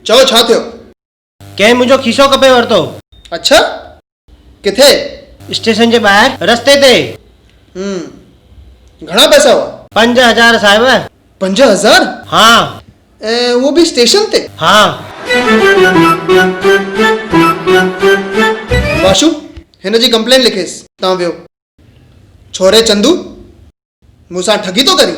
چئو ڇا ٿيو؟ ڪنهن منهنجو کيسو ڪپي ورتو. اڇا! ڪٿي؟ اسٽيشن جي ٻاهر رستي تي. هم. گهڻا پئسا هئا؟ پنج هزار صاحب. پنج هزار؟ ها. ۽ اهو به اسٽيشن تي؟ ها. باشو، هن جي ڪمپلينٽ لکيس. تان ويو. ڇوري چندو، مون سان ٺڳي ٿو ڪرين؟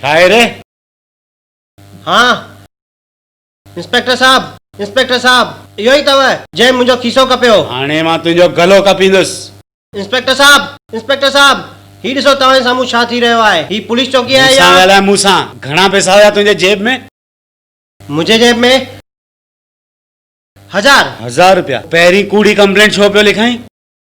ڇا آهي ري؟ ها انسپيڪٽر صاحب! انسپيڪٽر صاحب! اهو ئي اٿئو جنهن منهنجو کيسو ڪپيو. هاڻي مان تنهنجو گلو ڪپيندس. انسپيڪٽر صاحب! انسپيڪٽر صاحب! هي ڏسو توهان جي سامهون ڇا ٿي رهيو آهي. هي پوليس چوڪي آهي يا. مون سان ڳالهاء مون سان. گهڻا پئسا هيا تنهنجي جيب ۾؟ منهنجي جيب ۾ هزار. هزار روپيا! پهرين ڪوڙي ڪمپلينٽ ڇو پيو لکائين؟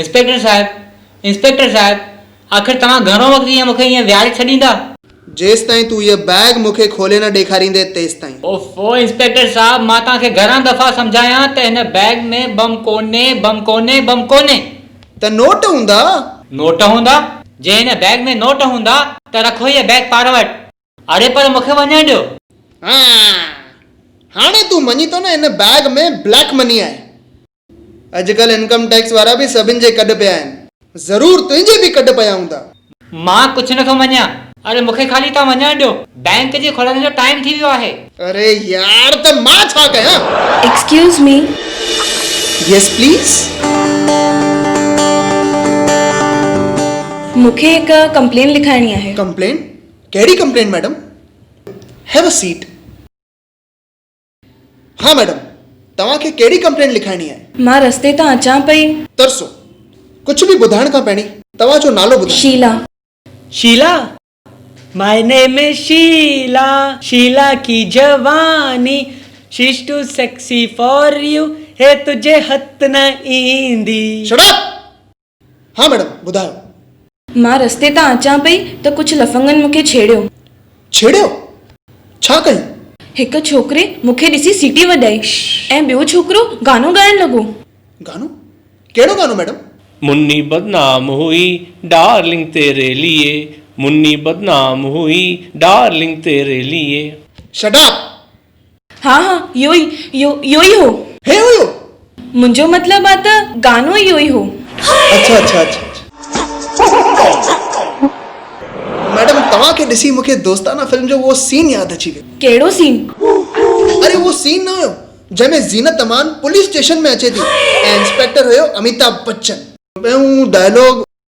انسپيڪٽر صاحب! انسپيڪٽر صاحب! آخر توهان گهڻو وقت ائين مون کي ائين ويهاري ڇڏيندا؟ جيستائين تون هيء بيگ مون کي کولي نه ڏيکاريندين تيستائين. اوف او انسپيڪٽر صاحب! مان توهان کي گهڻا دفعا سمجهايان ته هن بيگ ۾ بم ڪونهي، بم ڪونهي، بم ڪونهي. ته نوٽ هوندا؟ نوٽ هوندا؟ جي هن بيگ ۾ نوٽ هوندا ته رکو هيء بيگ پاڻ وٽ. اڙي پر مون کي وڃڻ ڏيو. هان! هاڻي تون مڃين ٿو نه هن بيگ ۾ بليڪ مني آهي. اڄڪلهه انڪم ٽيڪس وارا به سڀن جي ڪڍ پيا آهن. ضرور تنهنجي به ڪڍ پيا هوندا. مان ڪڇ نه ٿو مڃيان. اري مونکي خالي تان وڃڻ ڏيو بينڪ جي کلڻ جو ٽائيم ٿي ويو آهي. اري يار ته مان ڇا ڪيان. Excuse me. Yes please. مونکي هڪ ڪمپلين لکائڻي آهي. ڪمپلين ڪهڙي complain madam. Have a seat. ها ميڊم، توهان کي ڪهڙي ڪمپلينٽ لکائڻي آهي؟ مان رستي تان اچان پئي. ترسو، ڪجهه به ٻڌائڻ کان پهرين توهان جو نالو ٻڌائي. شيلا. شيلا، ماء نيم از شيلا، شيلا ڪي جواني، she is too sexy for you, هي تنهنجي هٿ نه ايندي. Shut up! ها ميڊم ٻڌايو. مان رستي تان اچان پئي ته ڪجهه لفنگن مون کي ڇيڙيو. ڇيڙيو؟ ڇا ڪيو؟ هڪ ڇوڪري مون کي ڏسي سيٽي وڄائي ۽ ٻيو ڇوڪرو گانو ڳائڻ لڳو. گانو؟ ڪهڙو گانو ميڊم؟ مني بدنام هئي ڊارلنگ تيري ليئي مني بدنام هئي ڊارلنگ تيري ليئي. Shut up! ها ها اهو ئي اهو اهو ئي هو. هي هيو. منهنجو مطلب آ ته گانو ئي اهو ئي هو. اڇا اڇا اڇا ميڊم توهان کي ڏسي مون کي دوستانه فلم جو اهو سين ياد اچي ويو. ڪهڙو سين؟ اري اهو سين نه هيو جنهن ۾ زينت امان پوليس اسٽيشن ۾ اچي ٿي ۽ انسپيڪٽر هيو اميتاڀ بچن. ۽ هو ڊائلاگ.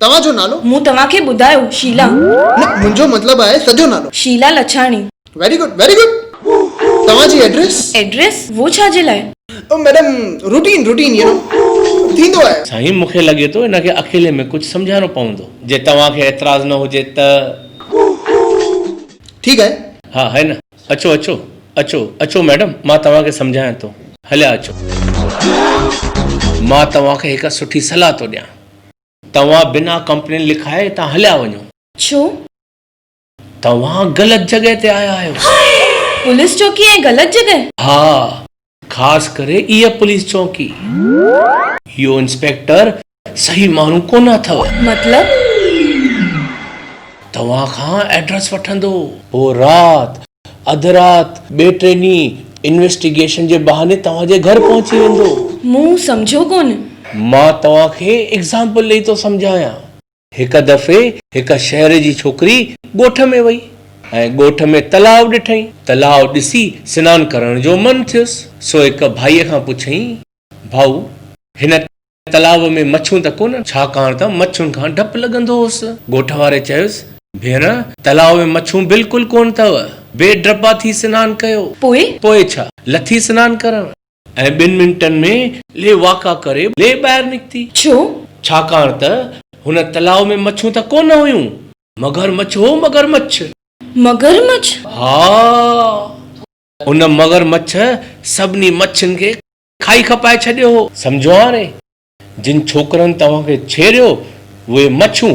توهان جو نالو؟ مون توهان کي ٻڌايو شيلا. نه منهنجو مطلب آهي سڄو نالو. Sheila Lachhani. Very good very good توهان جي ايڊريس؟ ايڊريس؟ وو ڇا جي لاء؟ او madam routine routine you know ٿيندو آهي. سائين مون کي لڳي ٿو ان کي اڪيلي ۾ ڪجهه سمجهائڻو پوندو. جي توهان کي اعتراض نه هجي ته. ٺيڪ آهي. ها هي نه. اچو اچو اچو اچو ميڊم مان توهان کي سمجهايان ٿو هليا اچو. مان توهان کي هڪ سٺي صلاح ٿو ڏيان. توهان بنا ڪمپلين لکائي هتان هليا وڃو. ڇو؟ توهان غلط جڳهه تي آيا آهيو. هاء! پوليس چوڪي ۽ غلط جڳهه؟ ها. خاص ڪري اها پوليس چونڪي. اهو انسپيڪٽر صحيح ماڻهو ڪونه اٿو. مطلب؟ توهان کان ايڊريس وٺندو. پوء رات اڌ رات ٻئي ٽئين ڏينهن انويسٽيگيشن جي بهاني توهان جي گهر پهچي ويندو. مون سمجهيو ڪونه. مان توهان کي ايگزامپل ڏئي ٿو سمجهايان. هڪ دفعي هڪ شهر جي ڇوڪري ڳوٺ ۾ وئي ۽ ڳوٺ ۾ تلاء ڏٺئين. تلاء ڏسي سنان ڪرڻ جو من ٿيس، سو هڪ ڀائيء کان پڇيائين، ڀائو! هن تلاء ۾ مڇون ته ڪونهن؟ ڇاڪاڻ ته مڇين کان ڊپ لڳندو هوس. ڳوٺ واري چيس، ڀيڻ! تلاء ۾ مڇون بلڪل ڪونه اٿو. بي ڊپا ٿي سنان ڪيو. پوء؟ پوء ڇا؟ لٿي سنان ڪرڻ. ۽ ٻن منٽن ۾ لي واڪا ڪري لي ٻاهر نڪتي. ڇو؟ ڇاڪاڻ ته هن تلاء ۾ مڇون ته ڪو نه هيون. مگر مڇ هو مگر مڇ. مگر مڇ؟ ها. ان مگر مڇ سڀني مڇين کي کائي کپائي ڇڏيو هو. سمجهو هاڻي؟ جن ڇوڪرن توهان کي ڇيڙيو اهي مڇون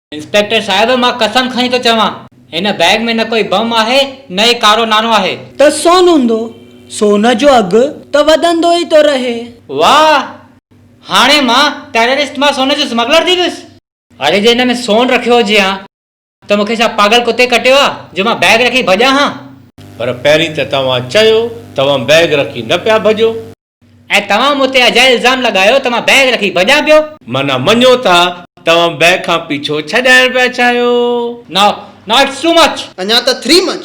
انسپيڪٽر صاحب مان قسم کڻي ٿو چوان هن بيگ ۾ نه ڪوئي بم آهي نه ئي ڪارو نانو آهي. ته سون هوندو. سون جو اگهه ته وڌندو ئي ٿو رهي. واهه! هاڻي مان ٽيررسٽ مان سون جو سمگلر ٿي ويس. اڙي جي هن ۾ سون رکيو هجي ها ته مون کي ڇا پاڳل ڪتي ڪٽيو آهي جو مان بيگ رکي ڀڄان ها. پر پهرين ته توهان چيو توهان بيگ رکي نه پيا ڀڄو. ۽ توهان مون تي اجائي الزام لڳايو ته مان بيگ رکي ڀڄان پيو. معنيٰ مڃو ٿا توهان بيگ کان پيڇو ڇڏائڻ پيا چاهيو. نا نا اٽس ٽو مچ. اڃا ته three much,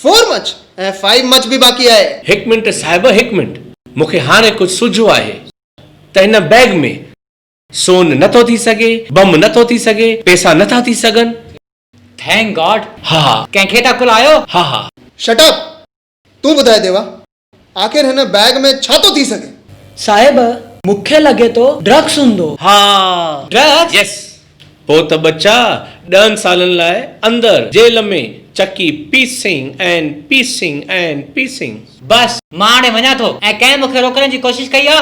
four much ۽ five much به باقي آهي. هڪ منٽ صاحب هڪ منٽ مون کي هاڻي ڪجهه سجهو آهي ته هن بيگ ۾ سون نه ٿو ٿي سگهي، بم نه ٿو ٿي سگهي، پيسا نه ٿا ٿي سگهن. Thank God. ها ها. ڪنهن کي ٿا کلايو. ها ها. Shut up. تون ٻڌاء ديوا. آخر هن بيگ ۾ ڇا ٿو ٿي سگهي؟ صاحب! مون کي لڳي ٿو ڊرگس هوندو. ها! ڊرگس؟ يس! پوء ته ٻچا ڏهن سالن لاء اندر جيل ۾ چڪي پيسنگ ۽ پيسنگ ۽ پيسنگ. بس! مان هاڻي وڃان ٿو ۽ ڪنهن مون کي روڪڻ جي ڪوشش ڪئي آ؟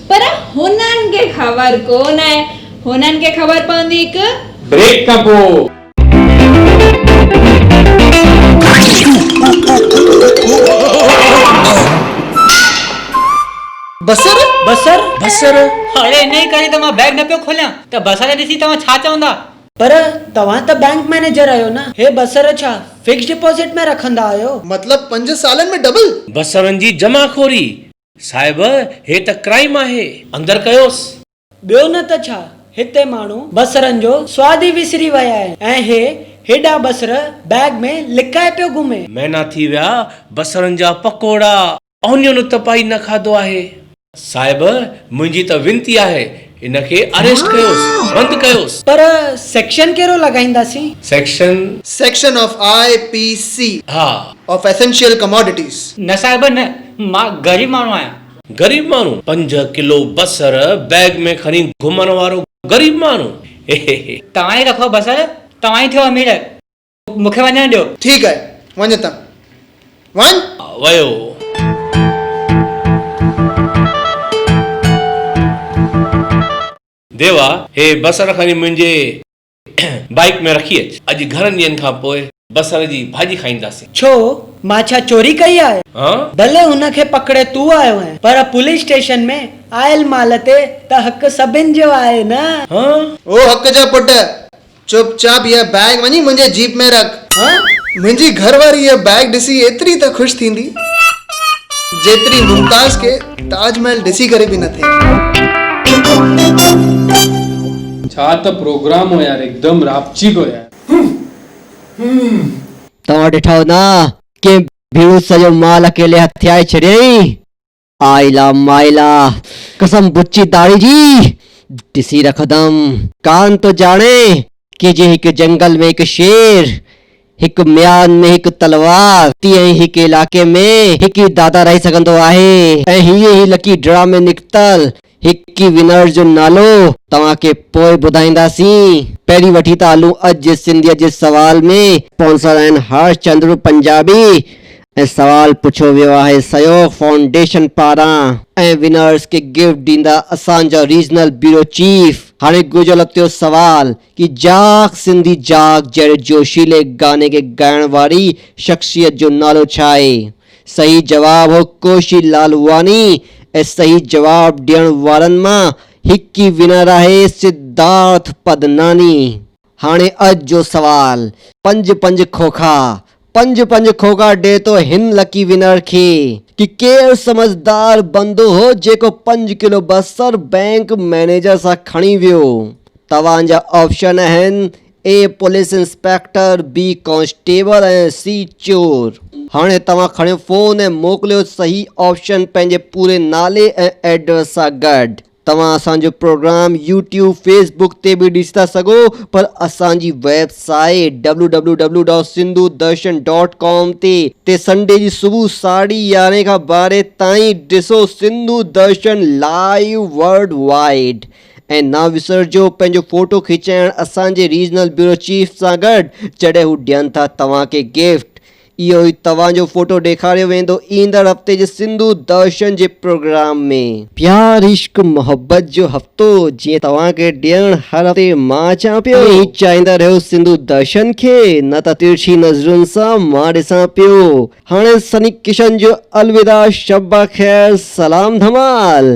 پر هنن کي خبر ڪونه آهي. هنن کي خبر پوندي هڪ. بريڪ کان پوء. بصر! بصر! بصر! اڙي انهيء ڪري ته مان بئگ نه پيو کوليان ته بصر کي ڏسي توهان ڇا چوندا؟ پر توهان ته بئنڪ مئنيجر آهيو نه؟ هي بصر ڇا فڪسڊ ڊپازٽ ۾ رکندا آهيو؟ مطلب پنج سالن ۾ ڊبل؟ بصرن جي جمع خوري! صاحب هي ته ڪرائيم آهي. اندر ڪيوس. ٻيو نه ته ڇا هتي ماڻهو بصرن جو سواد ئي وسري ويا آهن ۽ هي هيڏا بصر بيگ ۾ لڪائي پيو گهمي. مهنا ٿي ويا بصرن جا پڪوڙا. اونيون نه ته پائي نه کاڌو آهي. صاحب منهنجي ته وينتي آهي ان کي اريسٽ ڪيوس بند ڪيوس. پر سيڪشن ڪهڙو لڳائينداسين؟ Section. Section of I P C. ها. Of essential commodities. نه صاحب نه مان غريب ماڻهو آهيان. غريب ماڻهو پنج ڪلو بصر بيگ ۾ کڻي گهمڻ وارو غريب ماڻهو. توهان ئي رکو بصر توهان ئي ٿيو امير. مون کي وڃڻ ڏيو. ٺيڪ آهي، وڃ ته وڃ. ويو. ديوا، هي بصر کڻي منهنجي بائيڪ ۾ رکي اچ. اڄ گهڻن ڏينهن کان پوء بصر جي ڀاڄي کائينداسين. ڇو، مان ڇا چوري ڪئي آهي؟ ها؟ ڀلي هن کي پڪڙي تون آيو آهين، پر پوليس اسٽيشن ۾ آيل مال تي ته حق سڀن جو آهي نه. ها؟ او حق جا پٽ، چپ چاپ هيء بيگ وڃي منهنجي جيپ ۾ رک. ها، منهنجي گهر واري هيء بيگ ڏسي ايتري ته خوش ٿيندي، جيتري ممتاز کي تاج محل ڏسي ڪري به نه ٿئي. ڇا ته پروگرام هو يار هڪدم راپچي پيو يار. توهان ڏٺا هوندا ڪيئن ڀيڻو سڄو مال اڪيلي هٿيائي ڇڏيائين. آئلا مائلا قسم بچي داڙهي جي ڏسي رکندم. ڪانه ٿو ڄاڻين ڪي جيئن هڪ جنگل ۾ هڪ شير، هڪ ميان ۾ هڪ تلوار، تيئن ئي هڪ علائقي ۾ هڪ ئي دادا رهي سگهندو آهي. ۽ هيء ئي لڪي ڊرا ۾ نڪتل هڪ ئي ونرز جو نالو توهان کي پوء ٻڌائينداسين پهرين وٺي ٿا هلون اڄ جي سنڌيت جي سوال ۾. اسپانسر آهن هرش چندر پنجابي ۽ سوال پڇيو ويو آهي سهيوگ فائونڊيشن پاران. ۽ ونرز کي گفٽ ڏيندا اسان جا ريجنل بيورو چيف. هاڻي گهرجو لتيو سوال ڪي جاگ سنڌي جاگ جهڙي جوشيلي گاني کي ڳائڻ واري شخصيت جو نالو ڇا آهي؟ صحيح جواب هو ڪوشي لالواني ۽ صحيح جواب ڏيڻ وارن مان هڪ ئي ونر آهي سڌارٿ پدناني. هاڻي اڄ جو سوال پنج پنج کوکا پنج پنج کوکا ڏي ٿو هن لڪي ونر کي ڪي ڪير سمجهدار بندو هو جيڪو پنج ڪلو بصر بينڪ مئنيجر سان کڻي ويو توهان جا آپشن اهن A police inspector, B constable ۽ C چور. هاڻي توهان کڻيو فون ۽ موڪليو صحيح آپشن پنهنجي پوري نالي ۽ ايڊريس سان گڏ. توهان اسان جو پروگرام يوٽيوب، فيس بڪ تي به ڏسي ٿا سگهو پر اسان جي website W W W dot Sindhu Darshan dot com تي تي سنڊي جي صبح ساڍي يارهين کان ٻارهين تائين ڏسو Sindhu Darshan live worldwide. ۽ نه وسرجو پنهنجو فوٽو کيچائڻ اسان جي ريجنل بيورو چيف سان گڏ جڏهن هو ڏين ٿا توهان کي گفٽ. اهو ئي توهان جو فوٽو ڏيکاريو ويندو ايندڙ هفتي جي سنڌو درشن جي پروگرام ۾. پيار عشق محبت جو هفتو جيئن توهان کي ڏيڻ هر هفتي مان اچان پيو. ائين ئي چاهيندا رهيو سنڌو درشن کي نه ته ترڇي نظرن سان مان ڏسان پيو. هاڻي سني ڪشن جو الوداع شب بخير سلام ڌمال.